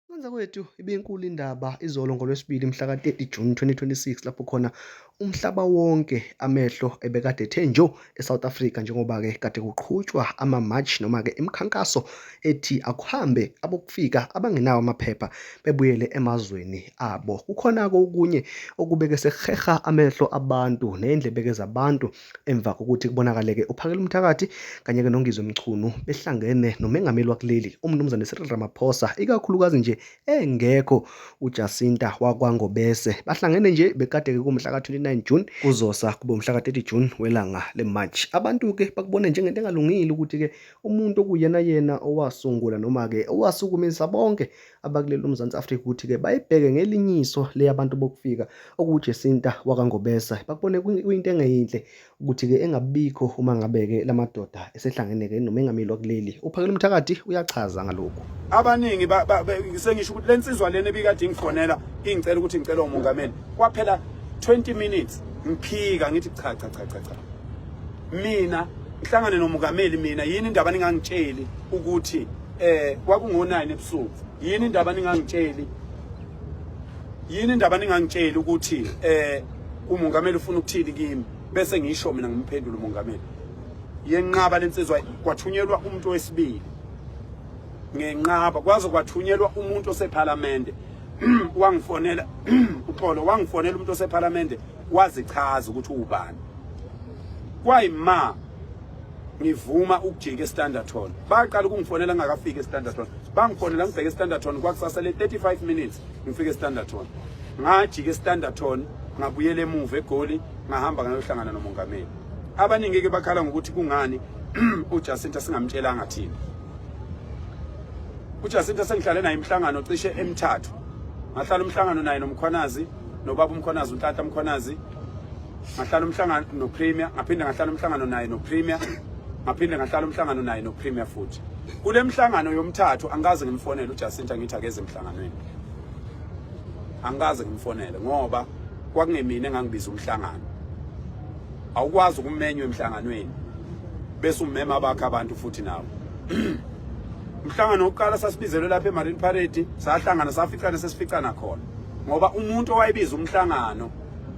Ukwenza kwethu ibinkulu indaba izolo ngoLwesibili mhla ka-30 Juni 2026 lapho khona umhlaba wonke amehlo ebekade ethe njo eSouth Africa njengoba-ke kade kuqhutshwa ama-march noma-ke imikhankaso ethi akuhambe abokufika abangenawo amaphepha bebuyele emazweni abo. Kukhona-ke okunye okubeke sekuheha amehlo abantu ney'ndlebeke zabantu Emva kokuthi kubonakaleke uPhakela Umthakathi kanye-ke noNgizwe Mchunu behlangene nomengameli wakuleli uMnumzane Cyril Ramaphosa, ikakhulukazi nje engekho uJacinta wakwaNgobese. Bahlangene nje bekade-ke kumhla ka-29 June kuzosa kube umhla ka-30 June welanga le-March. Abantu-ke bakubone njengento engalungile ukuthi-ke umuntu okuyena yena owasungula noma-ke owasukumisa bonke abakuleli uMzantsi Afrika ukuthi-ke bayibheke ngelinye iso le yabantu bokufika okuwuJesinta wakwaNgobesa bakubone kuyinto engeyinhle ukuthi-ke engabikho uma ngabe-ke la madoda esehlangene-ke nomengameli wakuleli uphakela umthakathi uyachaza ngalokhu abaningi sengisho ukuthi le nsizwa lena ebikade ingifonela ingicela ukuthi ngicela umongameli kwaphela 20 minutes ngiphika ngithi cha cha cha cha cha mina ngihlangane nomongameli mina yini indaba ningangitsheli ukuthi eh kwakungo-9 ebusuku yini indaba ningangitsheli yini indaba ningangitsheli ukuthi eh umongameli ufuna ukuthini kimi bese ngisho mina ngimphendula umongameli yenqaba lensizwa kwathunyelwa umuntu wesibili ngenqaba kwaze kwathunyelwa umuntu osephalamende wangifonela uxolo wangifonela umuntu osephalamende wazichaza ukuthi ubani kwayima ngivuma ukujika estanderton baqala ukungifonela ngingakafiki estanderton bangifonela ngibheke estanderton kwakusasa le 35 minutes ngifike estanderton ngajika estanderton ngabuyela emuva egoli ngahamba ngayohlangana nomongameli abaningi ke bakhala ngokuthi kungani uJacinta singamtshelanga thina uJacinta sengihlale naye imhlangano cishe emithathu ngahlala umhlangano naye nomkhwanazi nobaba umkhonazi untata mkhonazi ngahlala umhlangano nopremier ngaphinde ngahlala umhlangano naye nopremier ngaphinde ngahlala umhlangano naye nopremier futhi kule mhlangano yomthathu angikaze ngimfonele ujacinta ngithi akeze emhlanganweni angikaze ngimfonele ngoba kwakungemina engangibiza umhlangano awukwazi ukumenywa emhlanganweni bese ummema abakhe abantu futhi nawo umhlangano wokuqala sasibizelwe lapha emarine parade sahlangana saficana sesificana khona ngoba umuntu owayebiza umhlangano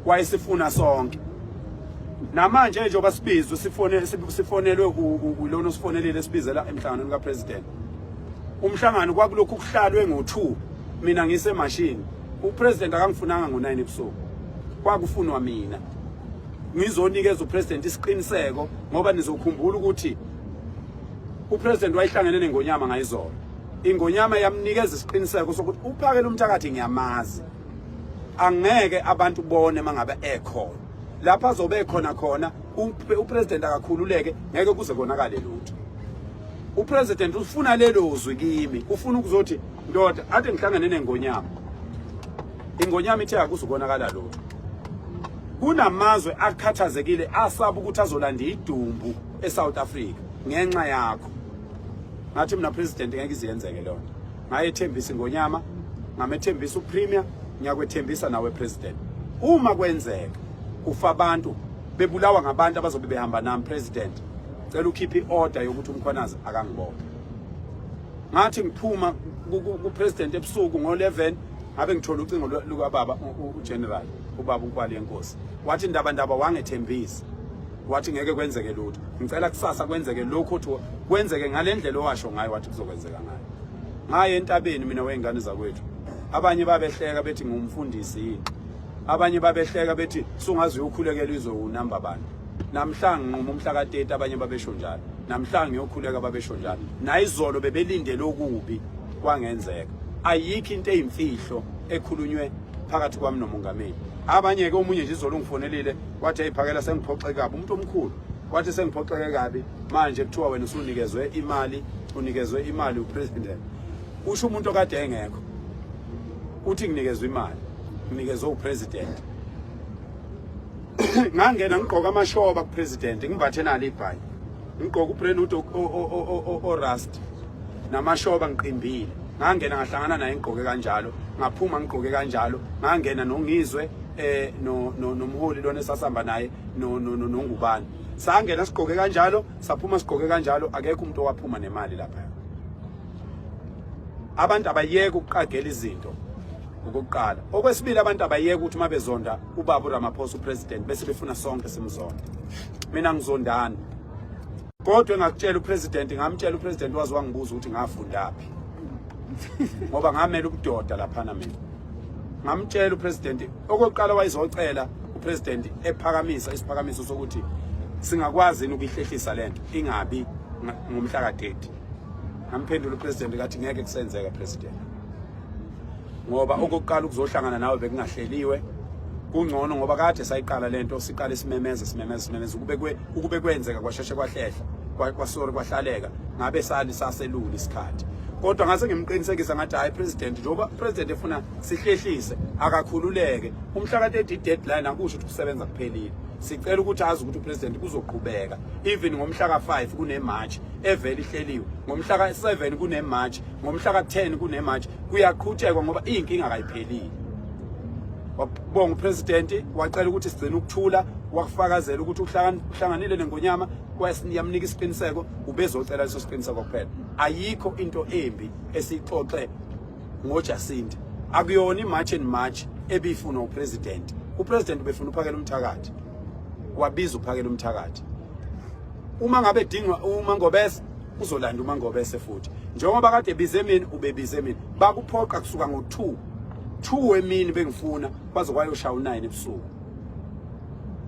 wayesifuna sonke namanje nje obasibizwe sifone sifonelwe ulona osifonelile esibizela emhlanganweni kapresident umhlangano kwakulokhu kuhlalwe ngo2 mina ngise machine upresident akangifunanga ngo9 ebusuku kwakufunwa mina ngizonikeza upresident isiqiniseko ngoba nizokhumbula ukuthi upresident wayihlangene nengonyama ngayizolo Ingonyama yamnikeza isiqiniseko sokuthi uphakela umthakathi ngiyamazi. Angeke abantu bone mangabe ekhona. Lapha azobe ekhona khona upresident akakhululeke ngeke kuze konakale lutho. Upresident ufuna lelo zwi kimi, ufuna ukuzothi ndoda ade ngihlangane nengonyama. Ingonyama ithe akuzukonakala lutho. kunamazwe akhathazekile asaba ukuthi azolanda idumbu eSouth Africa ngenxa yakho ngathi mina president ngeke iziyenzeke leyo nto ngayethembisa ingonyama ngamethembisa upremier ngiyakwethembisa nawe president uma kwenzeka kufa abantu bebulawa ngabantu abazobe behamba nami president cela ukhiphe i-order yokuthi umkhwanazi akangibophe ngathi ngiphuma kupresident ebusuku ngo-11 ngabe ngithola ucingo lukababa ugeneral ubaba ukwali yenkosi wathi ndaba ndaba wangethembisa wathi ngeke kwenzeke lutho ngicela kusasa kwenzeke lokho uthi kwenzeke ngalendlela owasho ngayo wathi kuzokwenzeka ngayo ngaye entabeni mina wengane zakwethu abanye babehleka bethi ngumfundisi yini abanye babehleka bethi sungazi uyokhulekela izwe unamba bani namhlanje nquma umhla ka-30 abanye babesho njalo namhlanje ngiyokhuleka babesho njalo nayizolo bebelindele okubi kwangenzeka ayikho into eyimfihlo ekhulunywe phakathi kwami nomongameli abanye-ke omunye nje izolo ungifonelile wathi ayiphakela sengiphoxeke kabi umuntu omkhulu wathi sengiphoxeke kabi manje kuthiwa wena usunikezwe imali unikezwe imali upresident usho umuntu okade engekho uthi nginikezwe imali nginikezwe upresident ngangena ngigqoka amashoba kupresident ngimbathe nalo ibhayi ngigqoka ubrandwood orust namashoba ngiqimbile ngangena ngahlangana naye ngigqoke kanjalo ngaphuma ngigqoke kanjalo ngangena nongizwe eh no nomholi lona esasihamba naye no no nongubani sangena sigqoke kanjalo saphuma sigqoke kanjalo akekho umuntu owaphuma nemali lapha abantu abayeke ukuqagela izinto okokuqala okwesibili abantu abayeke ukuthi uma bezonda ubaba uRamaphosa upresident bese befuna sonke simzonde mina ngizondani kodwa engakutshela upresident ngamtshela upresident wazi wangibuza ukuthi ngafundaphi ngoba ngamela ubudoda laphana mina ngamtshela upresident okokuqala wayizocela upresident ephakamisa isiphakamiso sokuthi singakwazi ukuyihlehlisa lento ingabi ngomhla ka-30 ngamphendula upresident kathi ngeke kusenzeka president ngoba okokuqala ukuzohlangana nawe bekungahleliwe kungcono ngoba kade sayiqala lento siqala isimemeza simemeza simemeza ukube kwe ukube kwenzeka kwasheshe kwahlehla kwasori kwahlaleka ngabe sali saselula isikhathi kodwa ngase ngimqinisekisa ngathi hayi president njengoba president efuna sihlehlise akakhululeke umhla ka 30 deadline akusho ukuthi kusebenza kuphelile sicela ukuthi azi ukuthi upresident kuzoqhubeka even ngomhla ka 5 kune march evele ihleliwe ngomhla ka 7 kune march ngomhla ka-10 kunemarch kuyaqhutshekwa ngoba iyinkinga kayiphelile wabonga upresidenti wacela ukuthi sigcine ukuthula wakufakazela ukuthi uhlanganile nengonyama yamnika isiqiniseko ubezocela leso siqiniseko kuphela ayikho into embi esiyixoxe ngojasinta akuyona imarch and march ebifunwa upresident upresident ubefuna uphakela umthakathi wabiza uphakela umthakathi uma ngabe dingwa uma ngobese uzolanda umangobese futhi njengoba kade bize mina ubebize mina bakuphoqa kusuka ngo-2 2 emini bengifuna baze kwayoshaya u-9 ebusuku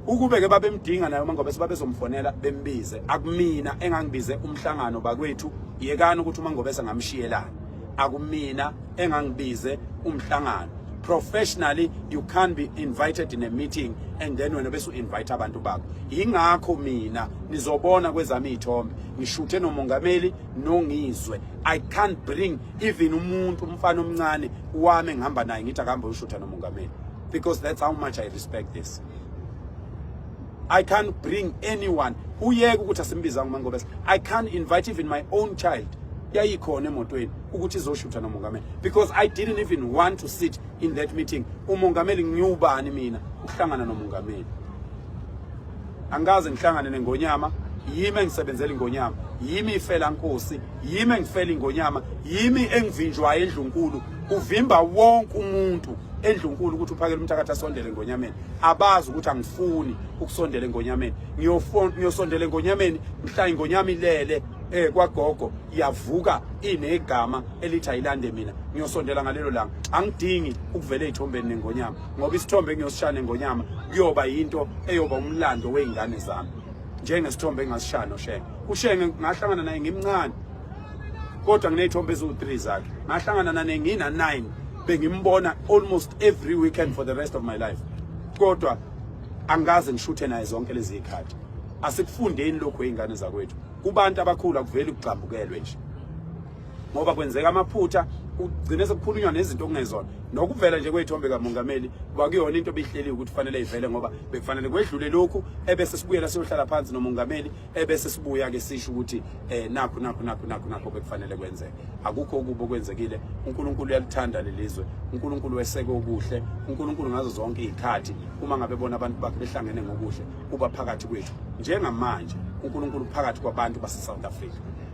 ukube-ke babemdinga naye umangobese babezomfonela bembize akumina engangibize umhlangano bakwethu yekani ukuthi umangobese ngamshiyelani akumina engangibize umhlangano professionally you can't be invited in a meeting and then wena bese u-invite abantu bakho yingakho mina nizobona kwezami iy'thombe ngishuthe nomongameli nongizwe i can't bring even umuntu umfana omncane wami ngihamba naye ngithi akahambe ushutha nomongameli because that's how much i respect this i can't bring anyone uyeke ukuthi asimbizanga umangobese i can't invite even my own child yayikhona emotweni ukuthi izoshutha nomongameli because i didn't even want to sit in that meeting umongameli ngiwubani mina ukuhlangana nomongameli angikaze ngihlangane nengonyama yimi engisebenzela ingonyama yimi ifela nkosi yimi engifela ingonyama yimi engivinjwayo endlunkulu uvimba wonke umuntu endlunkulu ukuthi uphakele umthakathi asondele ngonyameni abazi ukuthi angifuni ukusondela engonyameni ngiyosondela engonyameni mhla ingonyama ilele eh kwagogo iyavuka inegama elithi ayilande mina ngiyosondela ngalelo langa angidingi ukuvela ezithombeni nengonyama ngoba isithombe engiyosishaya nengonyama kuyoba yinto eyoba umlando wey'ngane zami njengesithombe engasishaya noshenge ushenge ngahlangana naye ngimncane kodwa nginey'thombe eziwu-three zakhe ngahlangana nane ngina-nine bengimbona almost every weekend for the rest of my life kodwa angikaze ngishuthe naye zonke lezi y'khathi asikufundeni lokhu ey'ngane zakwethu kubantu abakhulu akuveli kugxambukelwe nje ngoba kwenzeka amaphutha ugcine sekukhulunywa nezinto okungezona nokuvela nje kweyithombe kamongameli kwakuyona into ebihleli ukuthi kufanele ivele ngoba bekufanele kwedlule lokhu ebese sibuyela siyohlala phansi nomongameli ebese sibuya ke sisho ukuthi eh nakho nakho nakho nakho nakho bekufanele kwenzeke akukho ukubo kwenzekile uNkulunkulu uyalithanda lelizwe uNkulunkulu weseke okuhle uNkulunkulu ngazo zonke izikhathi uma ngabe bona abantu bakhe behlangene ngokuhle uba phakathi kwethu njengamanje uNkulunkulu phakathi kwabantu base South Africa